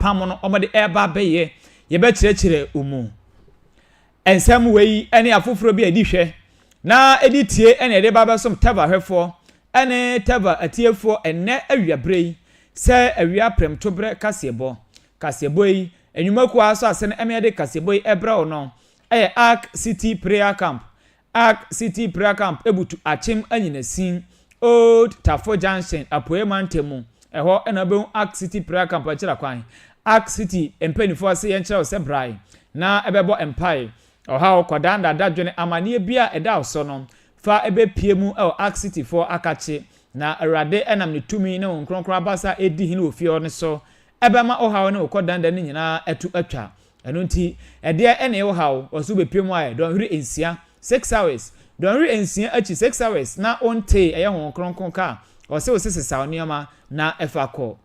pam no wɔde reba abɛyɛ. Yɛbɛkyerɛkyerɛ wo mu. Nsɛm wei ne afoforɔ bi a ɛdi hwɛ na ɛdi tie na yɛde ba bɛsom Teva hwɛfoɔ ne Teva atiefoɔ ɛnnɛ awia berɛ yi sɛ awia prɛmto berɛ kaseɛbɔ. Kaseɛbɔ yi, nnwumakuo a asɔ ase no ɛmɛ yɛde kaseɛbɔ yi ɛbrɛ wo no ɛyɛ Ark City Prayer Camp Ark City Prayer Camp butu Akyem Anyinasin, Old Tafo Junction, Apueɛ Mantam mu. Ɛhɔ na wobɛhu Ark City Prayer Camp akyira kwan. Ark City mpaninfoɔ se yɛnkyerɛ wo sɛ brae na bɛbɔ mpae. Ɔhaw, kɔdaa dada, dwene amaneɛ biara a ɛda wo so no fa bɛpue mu wɔ Ark Cityfoɔ akakye. Na Awurade nam ne tumi ne Honhom Kronkron abasa a ɛdi hene wɔ fie hɔ no so Ɛbɛma wo haw ne wo kɔdanda no nyinaa atu atwa. Ɛno nti, ɛdeɛ na ɛyɛ wo haw? Ɔse wobɛpie mu ayɛ dɔnhwere nsia, six hours. Dɔnhwere nsia akyi, six hours, na wontee ɛyɛ Honhom Kronkron ka a ɔse wo se sesaw nneɛma na fa kɔ.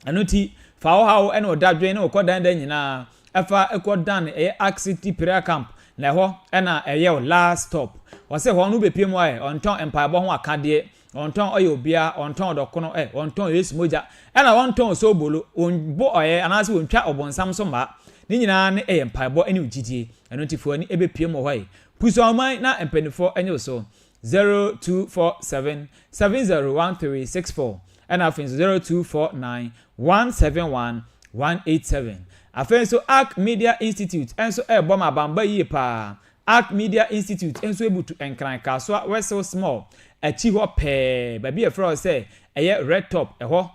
Ɛno nti, fa wo haw ne wo dadwen ne wo kɔdanda nyinaa fa kɔ dan ɛyɛ Ark City Prayer Camp na ɛhɔ na ɛyɛ wo last stop. Ɔse hɔ no wobɛpie mu ayɛ ɔntɔn mpaebɔ ho akadeɛ Wɔntɔn ɔyɛ obiara, wɔntɔn ɔdɔkono ɛ, wɔntɔn Yesu mogya, ɛna wɔntɔn soobolo, wɔnbɔ ɔyɛ anaase wɔntwa ɔbonsam so mmaa, ne nyinaa ne ɛyɛ mpaebɔ ɛne wo gyidie, ɛno nti fa w'ani ɛbɛpiem wɔ hɔ ɛ. Pusuawoman na mpaninfoɔ ɛnye wo so, 0247 701364 ɛna afei nso 0249 171 187. Afei nso Ark Media Institute ɛnso ɛɛbɔ ma abambɔ yie paa, Ark Media Institute nso butu nkran Kasoa Wessel Small akyi hɔ pɛɛ, baabi a wɔfrɛ hɔ sɛ ɛyɛ Red Top, ɛhɔ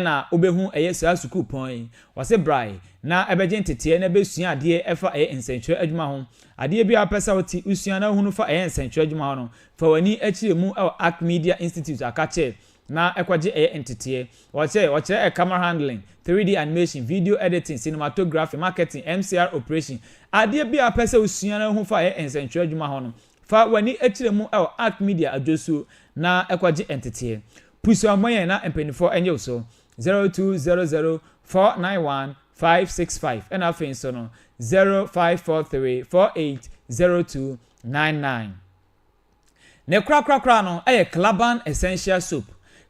na wobɛhu ɛyɛ saa sukuupɔn yi. Wɔse brae na ɛbɛgye nteteɛ na bɛsua adeɛ ɛfa ɛyɛ nsɛntwerɛ adwuma ho. Adeɛ biara wopɛ sɛ wote, wosua na wohunu fa ɛyɛ nsɛntwerɛ adwuma ho no, fa w'ani kyerɛ mu wɔ Ark Media Institute, ɔka kyerɛɛ na ɛkɔgye ɛyɛ nteteɛ. Wɔkyerɛ, wɔkyerɛ ɛ camera handling, 3D animation, video editing, cinematography, marketing, MCR operation. Adeɛ biara wopɛ sɛ wosua na wohu fa ɛyɛ nsɛntwerɛ adwuma ho no, fa w'ani kyerɛ mu wɔ Arc Media adwosuo na ɛkɔgye nteteɛ. Pusuo ammɔ yɛn na mpaninfoɔ ɛnye wo so. 0200 491 565 ɛna afei nso no 0543 480299. Ne korakorakora no yɛ Klaban Essential Soap.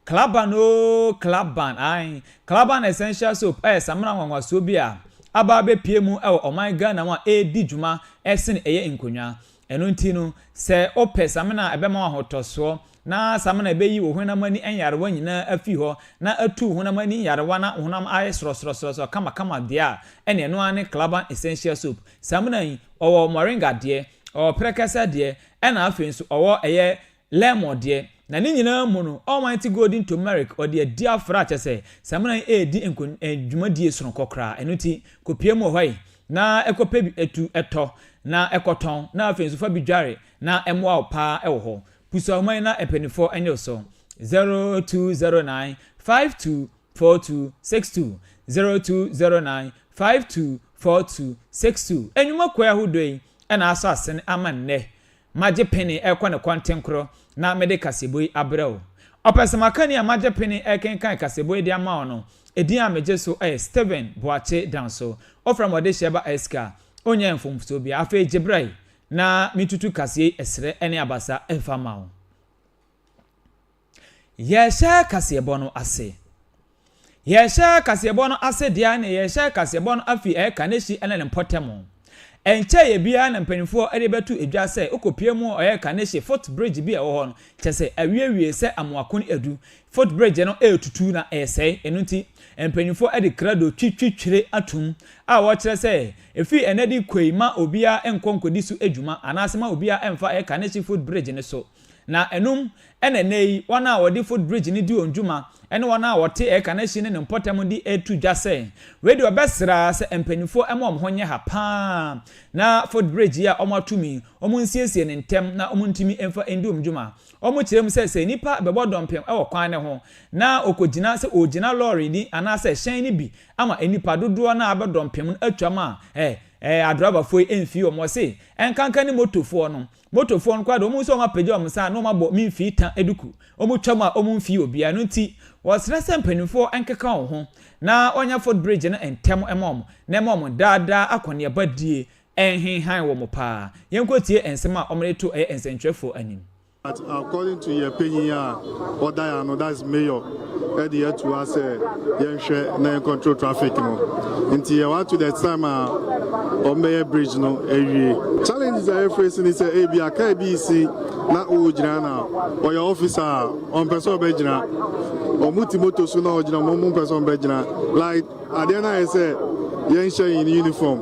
Klaban oo, Klaban, ae. Klaban Essential Soap yɛ samina nwanwasoɔ bi a aba abɛpue mu wɔ ɔman Ghana mu a ɛredi dwuma sene ɛyɛ nkonnwa. Ɛno nti no, sɛ wopɛ samina a ɛbɛma wo ahotɔsoɔ, na samina a ɛbɛyi wo honam ani nyarewa nyinaa afiri hɔ, na atu wo honam ani nyarewa na wo honam ayɛ srɔsrɔsrɔsrɔ kamakama deɛ a, ɛnneɛ ɛno ara ne Klaban Essential Soap. Samina yi, ɔwɔ moringa deɛ, ɔwɔ prɛkɛsɛ deɛ, ɛna afei nso ɔwɔ ɛyɛ lemon deɛ. Na ne nyinaa mu no, Almighty Golden Turmeric, ɔde adi afra kyerɛ sɛ, samina yi redi nko eh, dwumadie sononko koraa. Ɛno nti, kɔpue mu wɔ hɔ yi, na kɔpɛ bi tu tɔ, na kɔtɔn, na afei nso fa bi dware, na ɛmmoa wo pa ara wɔ hɔ. Pusa nwoma yi na mpaninfoɔ nyɛ wo so, 0209 52 four two six two zero two zero nine five two four two six two Enwuma kuo ahodoɔ yi na asɔ asene ama nnɛ Magye pene rekɔ ne kɔntenkorɔ na mede kaseɛbɔ yi abrɛ wo Ɔpɛsɛmakani a magye pene rekenkan kaseɛbɔ yi de ama wo no edin a megye so yɛ Stephen Boakye Danso Wofrɛ me ɔdehyeɛ ba Ɛsika a ɔnnya mfomsoɔ biara Afei gye bra yi na metutu kaseɛ yi ɛserɛ ne abasa mfa ma wo. Yɛhyɛ kaseɛbɔ no ase. Yɛhyɛ kaseɛbɔ no ase deɛ ne yɛhyɛ kaseɛbɔ no afi ɛyɛ Kanehyi ne ne mpɔtam. Ɛnkyɛ yɛ biara na mpanimfoɔ de bɛto edwa sɛ wokɔpie mu ɔyɛ Kanehyi foot bridge bi a ɛwɔ hɔ no kyɛ sɛ awiewie sɛ amoakon adu foot bridge no retutu na ɛresɛe ɛno nti mpanimfoɔ de krado twi twi twire atom a wɔkyerɛ sɛ ɛfiri ɛnɛ de kɔi ma obiara nkɔ nkɔdi so adwuma anaase ma obiara mfa ɛyɛ Kanehyi foot bridge no so Na ɛnom na ɛnnɛ yi wɔn a wɔde foot bridge no di wɔn dwuma ne wɔn a wɔte ɛka no ahyi ne ne mpɔtam de reto dwa sɛ wei deɛ wɔbɛsra sɛ mpaninfoɔ mma wɔn ho nyɛ ha pa ara na foot bridge yi a wɔatom yi wɔnsiesie no ntɛm na wɔntumi mfa ndi wɔn dwuma. Wɔkyerɛ mu sɛ sɛ nnipa bɛbɔ dɔmpem wɔ kwan no ho na wɔkɔgyina sɛ wɔregyina lɔre no anaasɛ hyɛn no bi ama nnipa dodoɔ no a abɛ dɔmpem no atwam a ɛ ɛ adrɔbafoɔ yi mfii wɔn ɔse ɛnkanka ne motofoɔ no Motofoɔ no koraa deɛ, wɔhu sɛ wɔapagya wɔn nsa a, na wɔabɔ me mfii ta duku. Wɔtwa mu a, wɔmfii obiara. Ɛno nti, wɔsrɛ sɛ mpanimfoɔ nkeka wɔn ho na wɔnyɛ footbridge no ntɛm mma wɔn, na ɛmma wɔn daadaa akɔneabadie nhenhan wɔn pa ara. Yɛnkɔtie nsɛm a wɔde to ɛyɛ nsɛntwerɛfoɔ anim. According to yɛn panyin a ɔdan ano that is mayor ɛde ato ha sɛ yɛnhwɛ na yɛn control traffic no nti yɛwɔ ato the time a ɔmbɛyɛ bridge no awie challenges a yɛfrɛ si ne sɛ ebi a kaa bi si na ɔgyina na ɔyɛ officer a ɔmpɛ sɛ ɔbɛgyina ɔmo ti moto so na ɔgyina ɔmo mpɛ sɛ ɔmbɛgyina like Adeɛ no ayɛ sɛ yɛnhyɛ yɛn uniform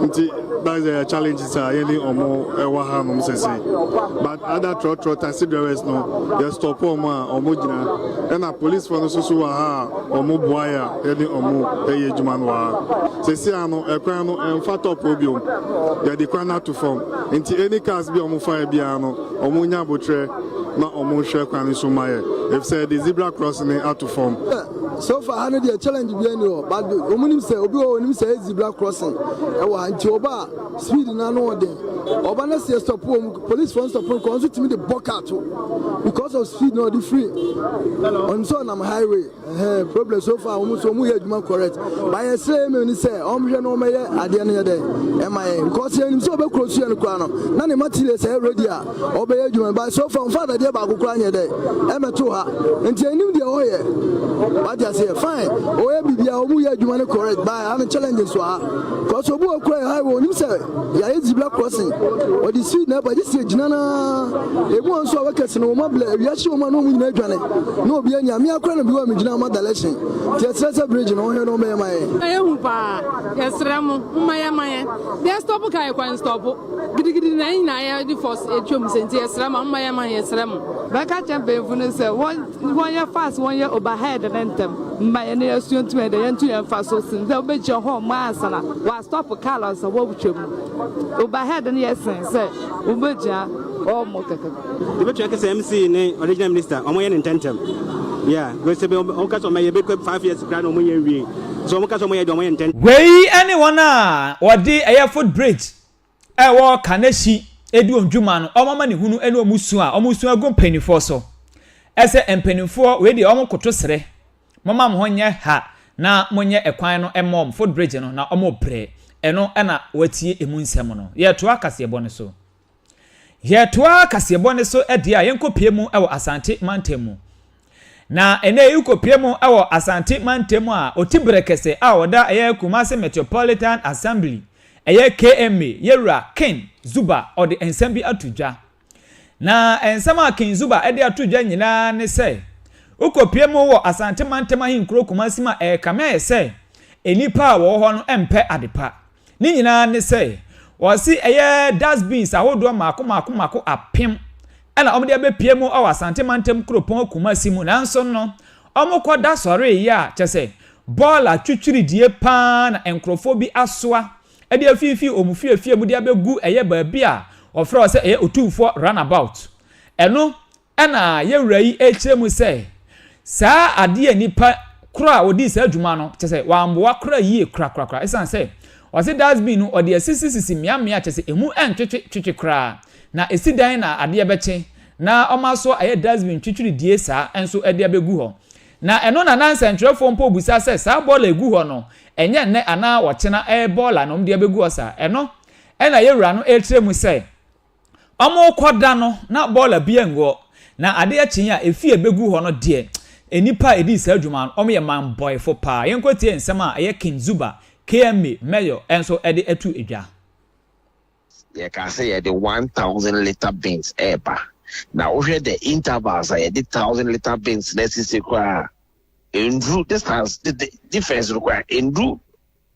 nti that's the challenges a yɛne ɔmo ɛwɔ ha nom sɛsɛ but other trɔtrɔ taxi drivers no yɛ stop ɔmo a ɔmo gyina ɛna police fo no soso wɔ ha a ɔmo boa yɛ a yɛne ɔmo ɛyɛ adwuma no wɔ ha sɛsɛ a no ɛkwan no ɛmfa top obiom yɛde kwan no ato fam nti any cars bi a ɔmo fa yɛ biara no ɔmo nya abotrɛ na ɔmo hwɛ kwan no so ma yɛ efisɛ yɛde zebra cross ne ato fam. So far ha no deɛ challenge bia ni hɔ but ɔmo nim sɛ obi wɔ onim sɛ ɛyɛ zebra crossing ɛwɔ ha nti ɔba a speed no ano ɔden ɔba na sɛ stop wɔ mu police fɔ stop no kɔ nso tumi de bɔ car to because of speed na ɔde free ɔnim sɛ ɔnam highway ɛhɛn problem so far ɔmo nso ɔmo yɛ adwuma correct but yɛ srɛ email ni sɛ ɔmo hwɛ na ɔmo yɛ adeɛ no yɛ dɛ ɛma yɛ because yɛ nim sɛ ɔbɛ kuro so yɛ no koraa no na ne materials ɛyɛ ready a Ɔbɛyɛ adwuma no but so far ɔmfa dadeɛ baako koraa nyɛ dɛ ɛmɛto ha nti ɛnim deɛ ɔyɛ wate aseɛ fine ɔyɛ biribiara ɔmu yɛ adwuma no correct but ha no challenge nso ha cause obi wɔ kura yɛ highway ɔnim sɛ yɛayɛ zebra crossing ɔde speed na ɛba gye sɛ gyina no ebi wɔn nso a wɔkɛse no wɔn abilɛ awia hye wɔn a na wɔn nyinaa adwane na obi anya mea kora no bi wɔ a megyina wɔn adalɛhyɛn nti ɛsrɛ sɛ bridge no ɔhwɛ no ɔmɛyɛ ma yɛ ɛyɛ hu paa yɛsrɛ mo mma yɛ ma yɛ deɛ stop ka yɛ kwan stop Gidigidi na yɛn nyinaa yɛde fɔs atwa mu sɛ nti yɛsrɛ ma momma yɛn ma yɛsrɛ mo. Bɛka kyɛ mpanyinfo no sɛ wɔnyɛ fast wɔnyɛ overhead no ntɛm mma yɛne yɛasua ntum ɛdɛ yɛntu yɛn mfa so sen sɛ wobɛgyina hɔ ɔmo ansa na wɔastop car ansa wɔatwa mu overhead no yɛ sen sɛ wobɛgyina hɔ ɔmo kɛkɛ. Yɛbɛtumi aka sɛ MC ne original minister wɔn yɛ ne ntɛntɛm. Yeah, because sɛ wɔn wɔn ka sɛ wɔn yɛ bɛkɔ five years koraa na wɔn yɛ nwie. So wɔn ka sɛ wɔn yɛ deɛ wɔn yɛ ntɛntɛm. Wei ne wɔn a wɔde ɛyɛ foot bridge a ɛwɔ Kaneshie di wɔn dwuma no, wɔn amanehunu ne wɔn su a wɔn su agu mpaninfoɔ so. Ɛsɛ mpaninfoɔ wei deɛ wɔn koto srɛ, momma mo ho nyɛ ha na mo nyɛ ɛkwan no mma wɔn, foot bridge no, na wɔn brɛ. Ɛno na wɔatie ɛmu nsɛm no. Yɛtoa kaseɛbɔ no so. Yɛtoa kaseɛbɔ no so deɛ a yɛnkɔpie mu wɔ Asante mantam mu. Na ɛnɛ yɛkɔpie mu wɔ Asante mantam a Ɔtibere kɛsɛ a ɔda ɛyɛ Kumasi Metropolitan Assembly ɛyɛ KMA yɛwura Ken Zuba ɔde nsɛm bi ato dwa. Na nsɛm a Ken Zuba ɛde ato dwa nyinaa ne sɛ wokɔpie mu wɔ Asante mantam ahenkuro Kumasi mu a ɛrekame ayɛ sɛ nnipa a wɔwɔ hɔ no mpɛ adepa. Ne nyinaa ne sɛ, wɔse ɛyɛ dustbins ahodoɔ mmaako mmaako mmaako apem ɛna wɔde abɛpue mu wɔ Asante mantam kuropɔn Kumasi mu nanso no, wɔkɔ da sɔreeɛ a kyɛ sɛ bɔɔla twitwiridie pa ara na nkorɔfoɔ bi asoa de afiifii wɔn fiefie mu de abɛgu ɛyɛ baabi a wɔfrɛ hɔ sɛ ɛyɛ Otumfoɔ Runabout. Ɛno Ɛnna yɛn wura yi rekyerɛ mu sɛ, saa adeɛ a nnipa koro a wɔdii saa dwuma no, kyerɛ sɛ wɔammoa koraa yie korakorakora ɛsiane sɛ wɔse dust bin no wɔde asisisisi mmeammea kyerɛ sɛ ɛmu ɛntwetwe twetwe koraa na ɛsi dan na adeɛ bɛkye na wɔma so ayɛ dust bin twitwiridie saa nso de abɛgu hɔ na ɛno na na nsɛntwerɛfoɔ mpo rebisa sɛ saa bɔɔla ɛgu hɔ no ɛnyɛ nnɛ anaa ɔkyena ɛyɛ bɔɔla na wɔde abɛgu hɔ saa ɛno ɛna yɛwura no ɛrekyerɛ mu sɛ Wɔrekɔ da no, na bɔɔla biara nni hɔ, na adeɛ kyee a efi a ɛbɛgu hɔ no deɛ, nnipa a ɛdii saa dwuma no, wɔyɛ mmanbɔɛfo paa. Yɛnkɔtie nsɛm a ɛyɛ King Zuba, KMA, Mayor nso de ato dwa. Yɛkaa sɛ yɛde one thousand litre bins reba, na wohwɛ the intervals a yɛde thousand litre bins no asisi koraa a, ɛnnuru distance, the difference no koraa ɛnnuru.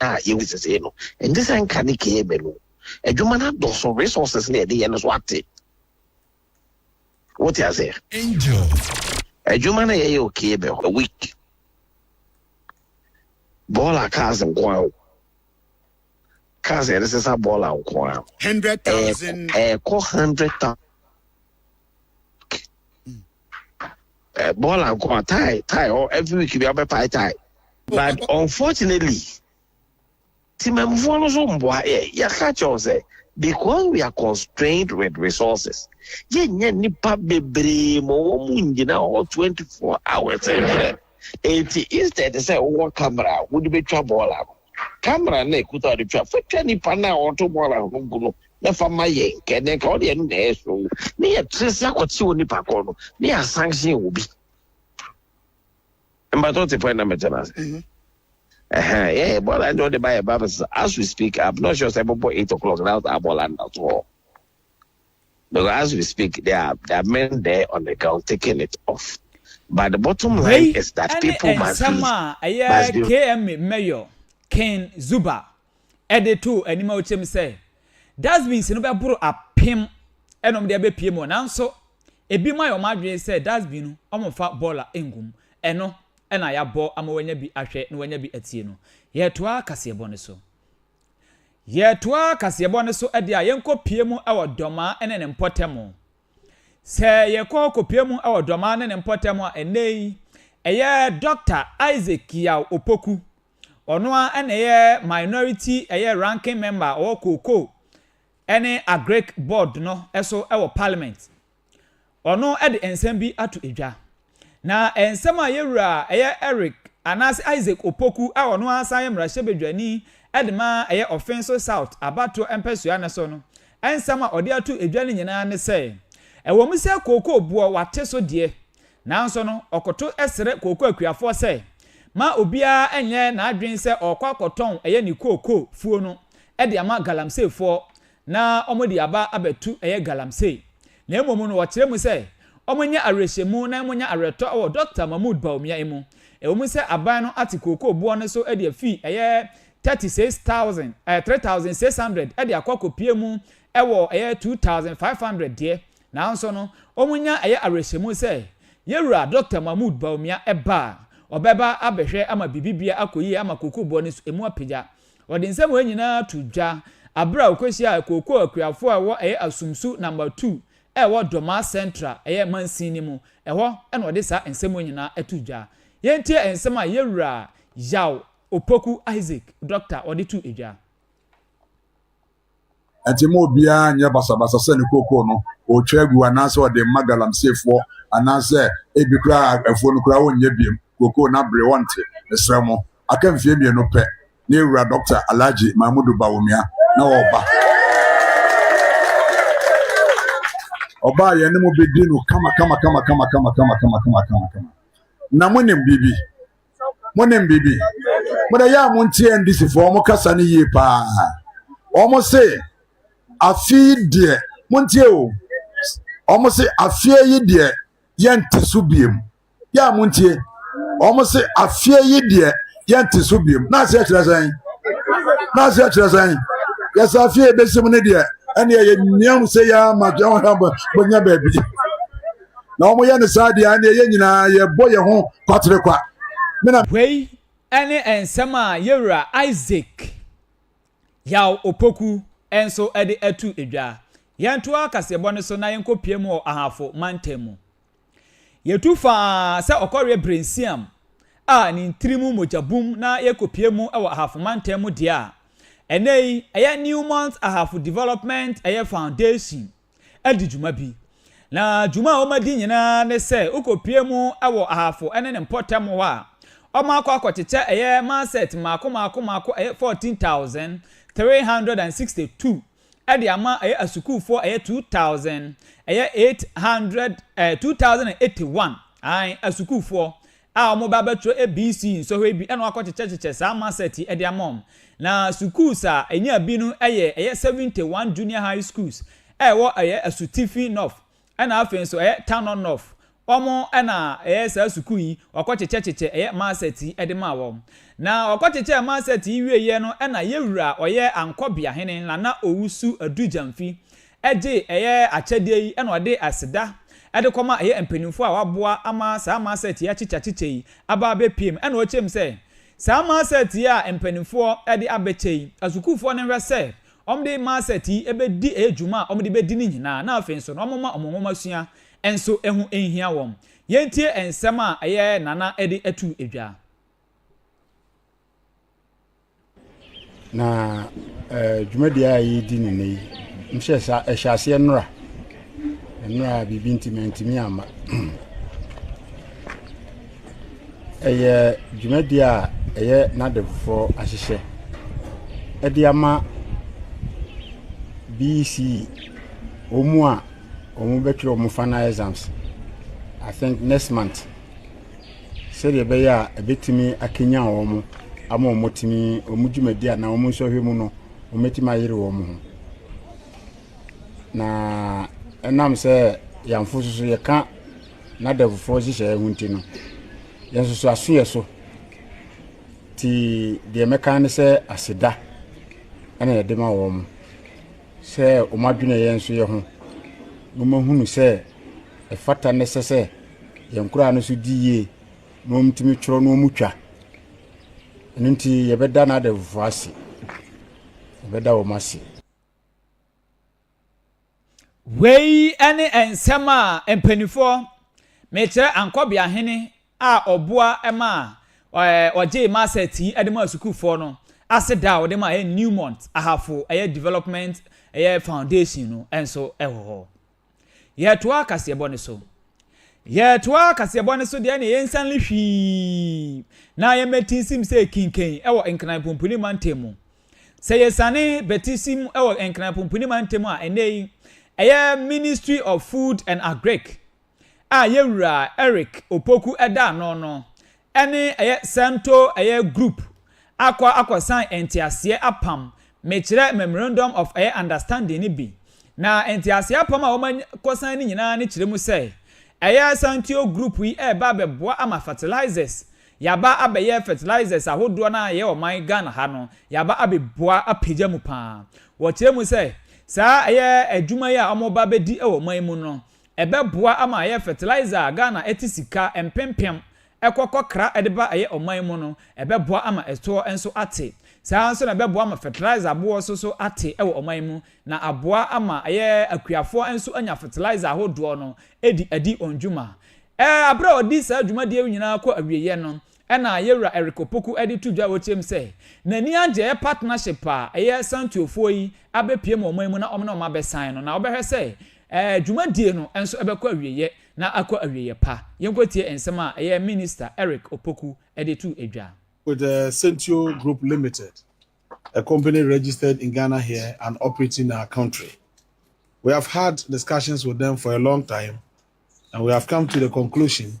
a yɛwɔ sesei no, ɛngye sɛ nka ne kɛɛ mɛnu. Adwuma no adɔso, resources no a yɛde yɛ no so ate. Wote aseɛ? Angel. Adwuma no a yɛyɛ wɔ kɛɛ mɛ hɔ, a week. Bɔɔla cars nko ara o. Cars a yɛde sesa bɔɔla nko ara. Hundred thousand. Ɛɛkɔ hundred thousand. Eh, ball and come tie, tie. Or oh, every week we have a pie tie. But unfortunately, Timemfo no so mboa eh, ya catch us eh, because we are constrained with resources. Ye nye nipa bebree mo wo mu nyina ho 24 hours every. Eh, Enti instead sɛ wowɔ camera, wode betwa ball ano. camera na ɛkuta ɔde twa fa twa nipa no a ɔto bɔɔl ahono gu no na fa ma yɛ nkɛ na nka ɔde ɛno na ɛyɛ so ne yɛ tere sɛ akɔte wɔ nipa kɔɔ no ne yɛ asanction wɔ bi mbatɔ te pɔn na mɛtɛ na ase mhm. ɛhɛn yɛ bɔɔl a ɛde ɔde ba yɛ ba as we speak I'm not sure sɛ ɛbɛbɔ eight o'clock na abɔɔl a nna so hɔ. Because as we speak, there are, there are men there on the ground taking it off. But the bottom line Wei is that ne people must nsɛm be, a ɛyɛ must be KMA Mayor Ken Zuba de too anim a ɔkyerɛm sɛ dustbins no bɛboro apem ɛna wɔde abɛpie mu nanso ebi mu ayɛ wɔn adwene sɛ dustbin no wɔmfa bɔɔla ngum ɛno ɛna yɛabɔ ama wɔanya bi ahwɛ na wɔanya bi atie no. Yɛtoa kaseɛbɔ no so. Yɛretoa kaseɛbɔ no so de a, yɛnkɔ pie mu wɔ Dɔmaa ne ne mpɔtam. Sɛ yɛkɔ kɔpie mu wɔ Dɔmaa ne ne mpɔtam a, ɛnnɛ yi, ɛyɛ Dɔkta Isaac Kiyao Opoku. Ɔno ara na ɛyɛ minority ɛyɛ ranking member a ɔwɔ Cocoa ne Agric board no so wɔ parliament. Ɔno de nsɛm bi ato edwa. Na nsɛm a yɛn wura a ɛyɛ Eric anaase Isaac Opoku a ɔno ara san yɛ mmarahyɛbadwani de ma ɛyɛ Offinso South abatoɔ mpɛsoa no so no nsɛm a ɔde ato edwa no nyinaa ne sɛ, ɛwɔ mu sɛ kookoo boɔ wate so deɛ, nanso no ɔkoto srɛ kookoo akuafoɔ sɛ ma obiara nyɛ n'adwene sɛ ɔrekɔ akɔtɔn ɛyɛ ne kookoo fuo no de ama galamseyfoɔ na wɔde aba abɛto ɛyɛ galamsey, na mmom no wɔkyerɛ mu sɛ wɔnyɛ awerɛhyɛmu na wɔnya awerɛtɔ wɔ Dɔkta Mahmoud Bawumia mu, ɛwom sɛ aban no ate kookoo boɔ no so de afi ɛyɛ 36,000, ɛyɛ 3,600 de akɔ akɔpue mu wɔ ɛyɛ 2,500 deɛ, nanso no wɔnya ɛyɛ awerɛhyɛmu sɛ Yɛwura Dɔkta Mahmoud Bawumia ba a, ɔbɛba abɛhwɛ ama biribi bia akɔ yie ama kookoo boɔ no so ɛmu apagya. Ɔde nsɛm wei nyinaa too dwa bere a okohyiaa kookoo akuafo a ɛwɔ ɛyɛ Asumsu Number Two a ɛwɔ Dormaa Central ɛyɛ mansin no mu. Ɛhɔ na ɔde saa nsɛm wei nyinaa too dwa. Yɛntie nsɛm a Yɛwura Yaw Opoku Isaac, Doctor, ɔde too dwa. Enti mma obiara nyɛ basabasa sɛ ne kookoo no ɔretwa agu anaasɛ ɔde rema galamseyfoɔ anaasɛ ebi koraa afuo no koraa ɔrenyɛ biom. Kookoo no abere, ɔnte. Mesrɛ mo, aka mfeɛ mmienu pɛ na yɛwura Dɔkta Alhaji Mahmudu Bawumia na ɔreba. Ɔba a yɛne mo bɛdi no kama kama kama kama kama kama kama kama kama kama. Na monim biribi? monim biribi mode yɛ a montie ndisifoɔ wɔn kasa no yie paa wɔn se afe yi deɛ montie o wɔn se afeɛ yi deɛ yɛnte so biem yɛ a montie wɔn se afeɛ yi deɛ yɛnte so biem na aseɛ kyerɛ sɛn na aseɛ kyerɛ sɛn yɛsɛ afeɛ yɛbɛsi mu no deɛ ɛne ɛyɛ nnuam sɛ yɛ ama deɛ wɔn bɛnya baabi na wɔyɛ no saa deɛ ɛneɛ yɛn nyinaa yɛbɔ yɛn ho kwatere kwa. Me na. Wei ne nsɛm a yɛwura Isaac Yaw Opoku nso de ato dwa. Yɛntoa kaseɛbɔ no so na yɛnkɔpue mu wɔ Ahafo mantam mu. Yɛtu faa sɛ ɔkɔreɛ Brensiam a ne ntiri mu mogya bum na yɛkɔpue mu wɔ Ahafo mantam mu deɛ a, ɛnnɛ yi ɛyɛ Newmont Ahafo Development ɛyɛ Foundation adi dwuma bi. Na dwuma a wɔadi nyinaa ne sɛ wokopue mu wɔ Ahafo ne ne mpɔtam hɔ a, wɔakɔ akɔkyekyɛ ɛyɛ Maset mmaako mmaako mmaako ɛyɛ fourteen thousand three hundred and sixty two de ama ɛyɛ asukuufoɔ ɛyɛ two thousand ɛyɛ eight hundred ɛɛ two thousand and eighty one ae asukuufoɔ a wɔn ba bɛtwerɛ ABC nsɔhwɛ bi na wɔakɔkyekyɛkyekyɛ saa Maset yi de ama wɔn. Na sukuus a ɛnyaa bi no yɛ ɛyɛ Seventy One Junior High Schools a ɛwɔ ɛyɛ Asutifi North ɛna afei nso ɛyɛ Tanor North. Wɔn na ɛyɛ saa sukuu yi wɔakɔkyekyɛkyekyɛ ɛyɛ Maset yi de maa wɔn. Na wɔkɔkyekyɛɛ Maset yi wieeɛ no na Yewura ɔyɛ Ankɔbeahene Nana Owusu Adu Gyamfi gye ɛyɛ akyɛdeɛ yi na ɔde aseda de kɔma ɛyɛ mpaninfoɔ a wɔaboa ama saa Maasɛt yi akyekyeakyekyɛ yi aba abɛpiem na ɔkyerɛm sɛ saa Maasɛt yi a mpaninfoɔ de abɛkyɛ yi, asukuufoɔ no nhwɛ sɛ wɔde Maasɛt yi bɛdi ɛyɛ dwuma a wɔde bɛdi no nyinaa na afei nso no wɔmma wɔn nwomasua nso ho nhia wɔn. Yɛntie nsɛm a ɛyɛ Nana de to dwa. Na dwumadie a yɛredi no nnɛ yi, mehyɛ sɛ ɛhyɛ aseɛ nnora. Nnora a biribi nti mantumi amma. Ɛyɛ dwumadie a ɛyɛ n'adefofoɔ ahyehyɛ de ama BECE, wɔn a wɔbɛtwerɛ wɔn final exams, I think next month. sɛdeɛ ɛbɛyɛ a ɛbɛtumi akanyan wɔn ama wɔatumi wɔn dwumadi anaa wɔn nsɔhwɛ mu no wɔatumi ayere wɔn ho na ɛnam sɛ yɛnfo soso yɛka n'adɛfofoɔ nhyehyɛeɛ ho nti no yɛn soso aso yɛ so ti deɛ mɛka ne sɛ aseda ɛna yɛde ma wɔn sɛ wɔn adwene yɛn nso yɛ ho wɔn ahunu sɛ ɛfata ne sɛ sɛ Yɛn nkoraa no so di yie na wɔtumi twerɛ na wɔtwa. Ɛno nti yɛbɛda n'adamfoɔ ase. Yɛbɛda wɔn ase. Wei ne nsɛm a mpanimfoɔ mekyerɛ Ankɔbeahene a ɔboa ma ɔgyee Marcet yi de maa sukuufoɔ no ase da a ɔde maa Newmont Ahafo ɛyɛ Development ɛyɛ Foundation no nso wɔ hɔ. Yɛtoa kaseɛbɔ no so. Yɛtoa kaseɛbɔ no so deɛ ɛne yɛnsan le hwii na yɛmmɛtisim sɛ Kinken wɔ Nkran Pumpuni Mantam mu. Sɛ yɛsane bɛtisim wɔ Nkran Pumpuni Mantam a ɛnnɛ yi ɛyɛ Ministry of Food and Agric a Yɛwura Eric Opoku da ano no ɛne ɛyɛ santo ɛyɛ group akɔ akɔsan nteaseɛ apam mekyerɛ memorandum of ɛyɛ understanding no bi na nteaseɛ apam a wɔn akɔsan no nyinaa no kyerɛ mu sɛ ɛyɛ santuo group yi ɛreba abɛboa ama fertilizers yaba abɛyɛ fertilizers ahodoɔ no a ɛyɛ ɔman Ghana ha no yaba abɛboa apagya mu paa wɔkyerɛ mu sɛ saa ɛyɛ adwuma yi a wɔn reba abɛdi wɔ ɔman mu no Ɛbɛboa ama ayɛ fertilizer a Ghana ɛte sika mpempem ɛkɔ kɔ kra ɛde ba ɛyɛ ɔman mu no, ɛbɛboa ama ɛtoɔ nso ate. Saa ara nso na ɛbɛboa ama fertilizer aboɔ so so ate ɛwɔ ɔman mu, na aboa ama ɛyɛ akuafoɔ nso anya fertilizer ahodoɔ no ɛdi adi wɔn dwuma. Ɛɛ aberɛ a ɔde saa dwumadie yi nyinaa kɔ awieɛ no, Ɛna Yɛwura Eric Opoku de to dwa wɔ kyerɛ mu sɛ n'ani agyɛ partnership a ɛyɛ Santuofoɔ yi abɛpue mu ɔman mu na wɔn ne wɔn abɛsan no na wɔbɛhwɛ sɛ ɛɛ dwumadie no nso ɛbɛkɔ awieɛ na akɔ awieɛ pa. Yɛnkɔtie nsɛm a ɛyɛ Minister Eric Opoku de to dwa. With the Sentio Group Limited, a company registered in Ghana here and operating in our country. We have had discussions with them for a long time and we have come to the conclusion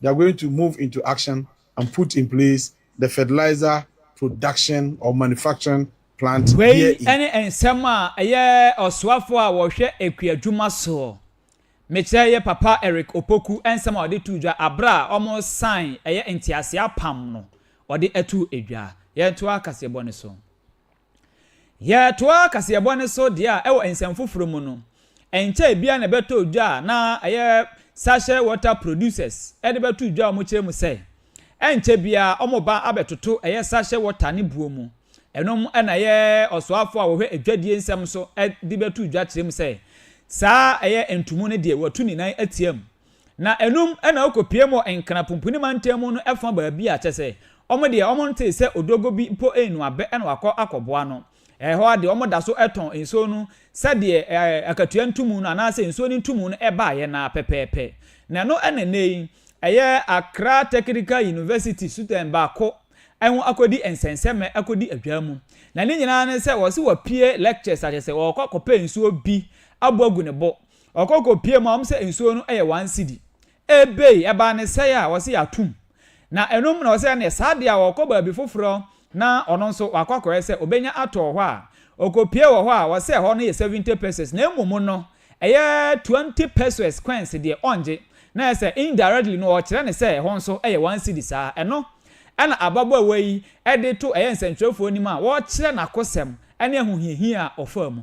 they are going to move into action and put in place the fertilizer production or manufacturing plant Wei here in. ne nsɛm a ɛyɛ ɔsoafoɔ a ɔhwɛ akuadwuma soɔ, mekyerɛ yɛ Papa Eric Opoku nsɛm a ɔde too dwa aberɛ a wɔresan ɛyɛ nteaseɛ apam no ɔde too dwa. Yɛntoa kaseɛbɔ no so. Yɛtoa kaseɛbɔ no so deɛ a ɛwɔ nsɛm foforɔ mu no, ɛnkyɛe biara na ɛbɛtɔɔ dwa a na ɛyɛ Sachet Water Producers de bɛtoo dwa a wɔkyerɛ mu sɛ, ɛnkyɛ biara wɔba abɛtoto ɛyɛ sachet water ne buo mu. Ɛno na ɛyɛ ɔsoafoɔ a wɔhwɛ adwadie nsɛm so de bɛtoo dwa kyerɛ mu sɛ, saa ɛyɛ ntumu no deɛ wɔatu ne nan atia mu. Na ɛnom na ɔkɔpiam wɔ Nkra Pumpuni Mantam mu no ɛfa baabi a kyɛ sɛ wɔn deɛ wɔn ntee sɛ odwogo bi mpo renu abɛ na wakɔ akɔboa no. Ɛhɔ ara deɛ wɔn da so tɔn nsuo no sɛdeɛ akatua ntumu no anaa sɛ nsuo no ntumu no baeɛ no ara pɛpɛɛpɛ. Na ɛno na ɛnnɛ yi ɛyɛ Accra Technical University Sutɛn baako ho akɔdi nsɛnsɛmɛ akɔdi adwaa mu. Na ne nyinaa ne sɛ wɔse wapue lectures akyɛ sɛ ɔrekɔ akɔpɛ nsuo bi abɔ agu ne bo Ɔkɔ kɔ pie mu a wɔn sɛ nsuo no yɛ one cedi. Ebei ɛbaa ne sɛɛ a wɔse yɛatom. Na ɛno mu na wɔse ɛneɛ saa deɛ a ɔkɔ baabi foforɔ na ɔno nso wakɔ akɔyɛ sɛ ɔbɛnya atɔ wɔ hɔ a, ɔkɔ pie wɔ hɔ a wɔse ɛhɔ no yɛ seventy pesos na mmom no ɛyɛ twenty pesos coins deɛ ɔngye. Na ɛyɛ sɛ indirectly no ɔrekyerɛ no sɛ ɛhɔ nso yɛ one cedi saa. Ɛno na ababaawa yi de to ɛyɛ nsɛntwerɛfoɔ anim a wɔrekyerɛ n'akosɛm ne ahohiahia a ɔfaa mu.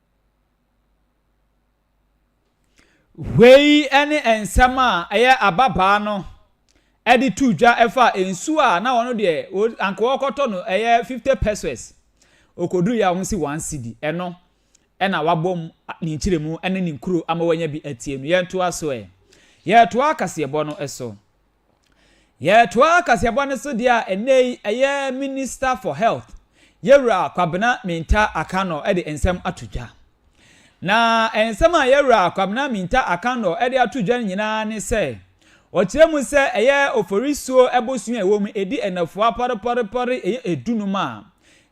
Wei ne nsɛm a ɛyɛ ababaa no de to dwa fa nsu a na ɔno deɛ o anka ɔrekɔtɔ no ɛyɛ fifty pesewas. Ɔkɔduruiɛ a wɔsi one cedi. Ɛno na wabom a ne nkyerɛmu ne ne nkuro ama wanya bi atie no. Yɛntoa so ɛ. Yɛtoa kaseɛbɔ no so. Yɛtoa kaseɛbɔ no so deɛ a ɛnnɛ yi ɛyɛ Minister for Health, Yɛwura Kwabena Minta Akannor de nsɛm ato dwa. Na nsɛm a Yɛwura Kwabena Minta Akannor de ato dwa no nyinaa ne sɛ, ɔkyerɛ mu sɛ ɛyɛ Oforisuo bosea a ɛwɔ mu, ɛdi nnafua pɔrepɔrepɔre, ɛyɛ dunum a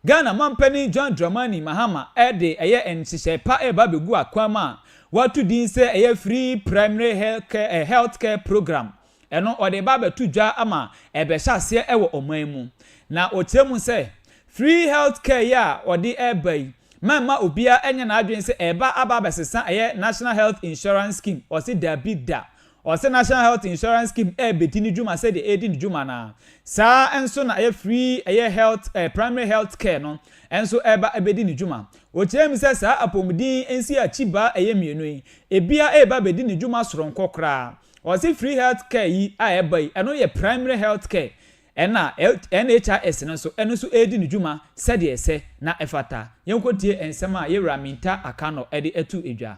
Ghana Mampanin John Dramani Mahama de ɛyɛ nhyehyɛe pa reba abegu akwan mu a wɔato din sɛ ɛyɛ Free Primary Health Care Programme. Ɛno ɔde reba abɛto dwa ama ɛrebɛhyɛ aseɛ wɔ ɔman mu. Na ɔkyerɛ mu sɛ, Free Health Care yi a ɔde reba yi ma mma obiara nyɛ n'adwene sɛ ɛreba aba abɛsesa ɛyɛ National Health Insurance Scheme, ɔse daabi da, Ɔse National Health Insurance Scheme ɛrebedi ne dwuma sɛdeɛ ɛredi ne dwuma no ara. Saa ara nso na ɛyɛ free ɛyɛ health ɛɛ primary health care no nso reba abedi ne dwuma. Ɔkyerɛɛ mu sɛ saa apɔmuden nsi akyi baa ɛyɛ mmienu yi, ɛbia reba abedi ne dwuma soronko koraa. Ɔse free health care yi a ɛreba yi, ɛno yɛ primary health care ɛna NHIS no nso, ɛno nso redi ne dwuma sɛdeɛ ɛsɛ na ɛfata. Yɛnkɔtie nsɛm a Yewura Minta Akannor de ato dwa.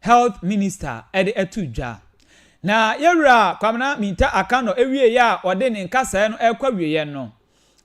Health Minister de ato dwa. Na yɛn Wura Kwamina Minta Akannor wieɛ a ɔde ne nkasaɛ no rekɔ awieɛ no,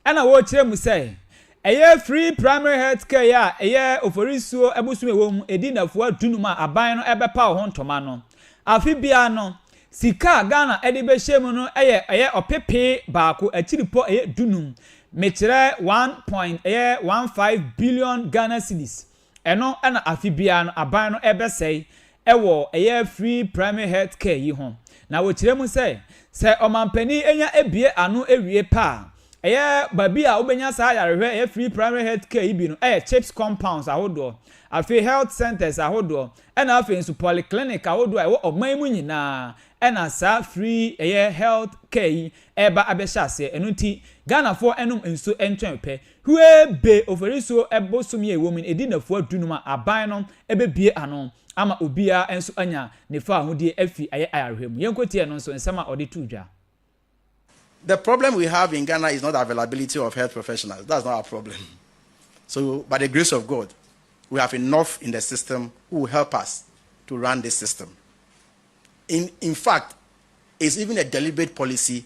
ɛna ɔrekyerɛ mu sɛ, ɛyɛ Free Primary Health Care a ɛyɛ Oforisuo bosom a ɛwɔ mu ɛdi nnafua dunum a aban no rebɛpaw ho ntoma no, afe biara no, sika a Ghana de bɛhyɛ mu no yɛ ɛyɛ ɔpepee baako akyiripɔ ɛyɛ dunum, mekyerɛ one point ɛyɛ one five billion Ghana cedis, Ɛno na afe biara no aban no rebɛsɛe wɔ ɛyɛ free primary health care yi ho. Na wɔkyerɛ mu sɛ, sɛ ɔmanpanin nya abue ano awie pɛ a, ɛyɛ baabi a wobɛnya saa ayarehwɛ ɛyɛ free primary health care yi bi no yɛ CHPS compounds ahodoɔ, afei health centres ahodoɔ, ɛna afei nso polyclinic ahodoɔ a ɛwɔ ɔman yi mu nyinaa ɛna saa free ɛyɛ health care yi reba abɛhyɛ aseɛ. Ɛno nti Ghanafoɔ nnom nsuo ntwɛn pɛ. Hue be Oforisuo bosome a ɛwom no ɛdi nnafua dunum a aban no bɛbue ano ama obiara nso anya ne fawohodie afi ayɛ ayarehoɛ mu. Yɛnkɔtie ɛno nso nsɛm a ɔde too dwa. The problem we have in Ghana is not availability of health professionals, that's not our problem. So by the grace of God, we have enough in the system who will help us to run this system. In, in fact, it's even a deliberate policy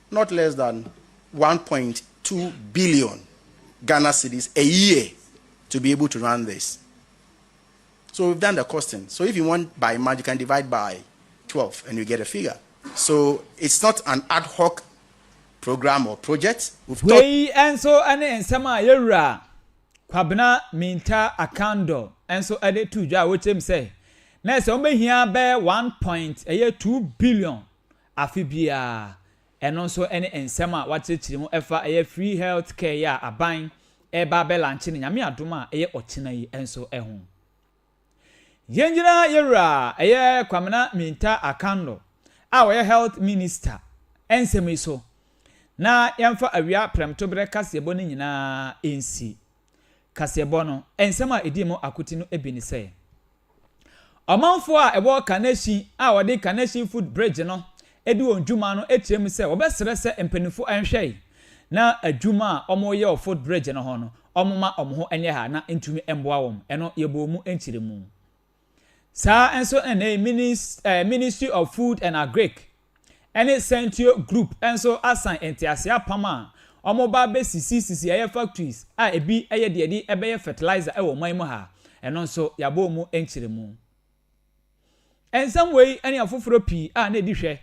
not less than one point two billion Ghana cedis a year to be able to run this so we've done the costing so if you want by month you can divide by twelve and you get a figure so it's not an ad hoc program or project we've thought. Wei nso ne nsɛm a yɛn Wura Kwabena Mintah Akandor nso de too dwa a ɔkyerɛ mu sɛ na ɛsɛ wɔbɛhia bɛyɛ one point ɛyɛ two billion afe biara. Ɛno nso ne nsɛm a wɔakyerɛkyerɛ mu ɛfa ɛyɛ Free Health Care yi a aban reba abɛlankye no Nyame adom a ɛyɛ ɔkyena yi nso ho. Yɛngyina yɛn Wura ɛyɛ Kwamena Minta Akanlo a ɔyɛ Health Minister nsɛm yi so na yɛmfa awia prɛmtoberɛ kaseɛbɔ no nyinaa nsi. kaseɛbɔ no nsɛm a ɛdii mu akote no bi ne sɛ, Ɔmanfoɔ a ɛwɔ Kaneshie a wɔde Kaneshie Foot Bridge no di wɔn dwuma no kyerɛ mu sɛ wɔbɛsrɛ sɛ mpanimfoɔ nhwɛe na adwuma a wɔreyɛ wɔ Foot Bridge no ho no wɔmma wɔn ho nyɛ ha na ntumi mmoa wɔn. Ɛno yɛbɔɔ mu nkyerɛmu. Saa ara nso na Minis eh, Ministry of Food and Agric ne Centio Group nso asan ntease apam a wɔba abɛsisi sisi ɛyɛ factories a ebi yɛ deɛ de ɛbɛyɛ fertilizer wɔ ɔman mu ha. Ɛno nso yɛabɔ wɔn nkyerɛmu. Nsɛm wei ne afoforɔ pii a na ɛdi hwɛ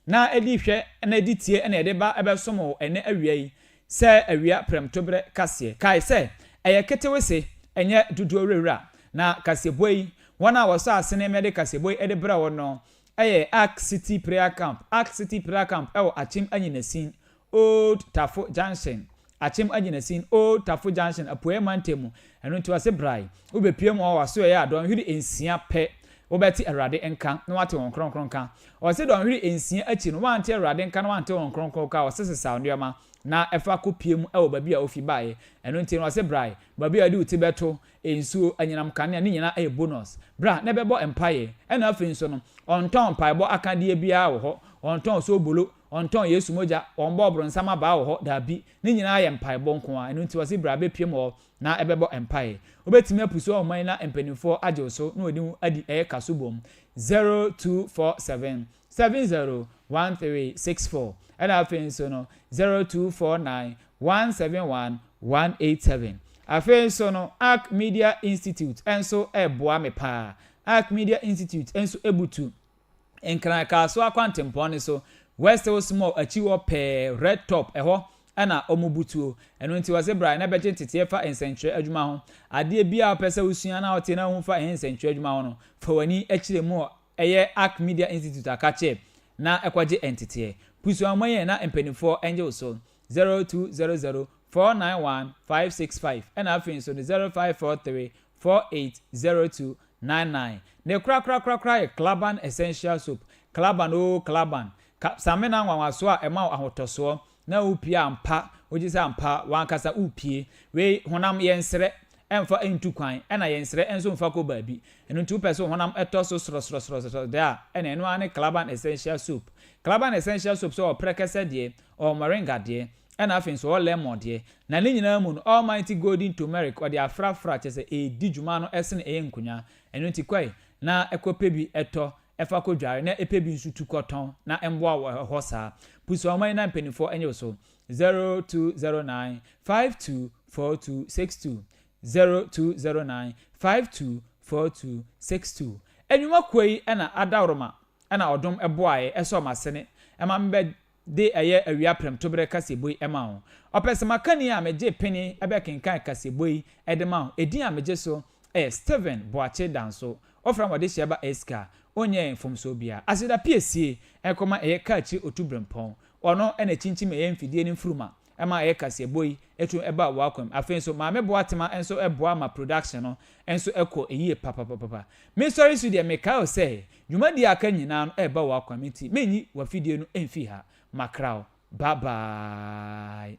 na ɛdi hwɛ na ɛdi tie na yɛde ba bɛsom wo ɛnnɛ awia yi sɛ awia prɛmtoberɛ kaseɛ. Kae sɛ, ɛyɛ ketewese, ɛnyɛ dodoɔ wurawura. Na kaseɛbɔ yi, wɔn a wɔsɔ asene ma yɛde kaseɛbɔ yi de brɛ wo no yɛ Ark City Prayer Camp, Ark City Prayer Camp ɛwɔ Akyem Anyinasin, Old Tafo Junction, Akyem Agyinasin, Old Tafo Junction, Apueɛ Mantam mu, ɛno nti ɔse brae, wobɛpue mu hɔ w'asoɛeɛ a dɔnhwere nsia pɛ wobɛte Awurade nka na w'ate Wɔn Kronkron nka. Ɔse dɔnhwere nsia akyi no w'ante Awurade nka na w'ante Wɔn Kronkron ka a ɔse sesaw nneɛma na fa kɔ pue mu wɔ baabi a wofi baeɛ, ɛno nti no ɔse brae, baabi a wode wo ti bɛto, nsuo, anyinam kanea, ne nyinaa yɛ bonus, bra na ɛbɛbɔ mpaeɛ, ɛna afei nso no ɔntɔn mpaebɔ akadeɛ biara wɔ hɔ, ɔntɔn soobolo, Wɔntɔn Yesu mogya, wɔmmɔ ɔbronsam abaa wɔ hɔ, dabi. Ne nyinaa yɛ mpaebɔ nko ara. Ɛno nti wɔse bra bɛpue mu hɔ na ɛbɛbɔ mpae. Wobɛtumi apusu ɔhoma yi na mpaninfoɔ agye wo so na wɔde wo adi ɛyɛ kaso bom. 0247 701364 ɛna afei nso no 0249 171 187. Afei nso no Ark Media Institute nso ɛreboa me paa. Ark Media Institute nso ɛbutu. Nkran Kasoa kwantempɔn no so, West Hills Mall akyi hɔ pɛɛ, Red Top, ɛhɔ na wɔbu tuo. Ɛno nti wɔse bra na bɛgye nteteɛ fa nsɛnkyerɛ adwuma ho. Adeɛ biara a wopɛ sɛ wosua na wote na wohu fa yɛn nsɛnkyerɛ adwuma ho no, fa w'ani kyerɛ mu wɔ ɛyɛ Ark Media Institute a ka kyɛ na kɔgye nteteɛ. Pusuammɔ yɛn na mpaninfoɔ ngye wo so. 0200 491 565 ɛna afei nso no 0543 480299 Ne korakorakorakora yɛ Klaban Essential Soap Klaban oo Klaban Ka samina nwanwasoɔ a ɛma wo ahotɔsoɔ na wopie a ampa wogye sɛ ampa w'ankasa wopie Wei honam yɛn serɛ ɛmfa ntu kwan ɛna yɛn serɛ nso mfa kɔ baabi Ɛno nti wopɛ sɛ wo honam tɔ so srɔsrɔsrɔsrɔ deɛ a ɛna ɛno ara ne Klaban Essential Soap Klaban Essential Soap sɛ ɔwɔ prɛkɛsɛ deɛ ɔwɔ moringa deɛ Ɛna afei nso ɔwɔ lemon deɛ. Na ne nyinaa mu no almighty golden tomeric ɔde afrafra kyerɛ sɛ ɛɛdi dwuma no ɛsene ɛyɛ nkonya. Ɛno nti kɔe na ɛkɔ pɛ bi ɛtɔ ɛfa kɔ dware na ɛpɛ bi nso tu kɔ tɔn na ɛmboa wo ɛhɔ saa. Pusa wɔn ani na mpaninfoɔ ɛnyɛ wo so. 0209 524262 0209 524262 Ɛnwuma kuo yi ɛna Adaworoma ɛna Ɔdom ɛboaeɛ ɛsɔɔ m'asene ɛma me bɛ de ɛyɛ awia prɛmtoberɛ kaseɛbɔ yi ma wo. Ɔpɛ sɛ makani a megye pene bɛkenkan kaseɛbɔ yi de ma wo. Edin a megye so yɛ Stephen Boakye Danso. Wofrɛ me wɔde hyɛ ba Eska. Wonyɛɛ mfomsoɔ biara. Aseda piesie, ɛkɔm a ɛyɛ kaa akyire otu berempɔn. Ɔno na ɛkyinkyim ɛyɛ mfidie no mfuruma. ɛma ɛyɛ kaseɛbɔ yi tumi ba w'akwam. Afei nso Maame Boatema nso boa ma production no nso kɔ yie papapapapa. Me sɔre su deɛ mekae wo sɛ dwumadie a aka nyinaa no reba w'akwam nti menyi w'afidie no mfiri ha. Makra wo. Bye bye.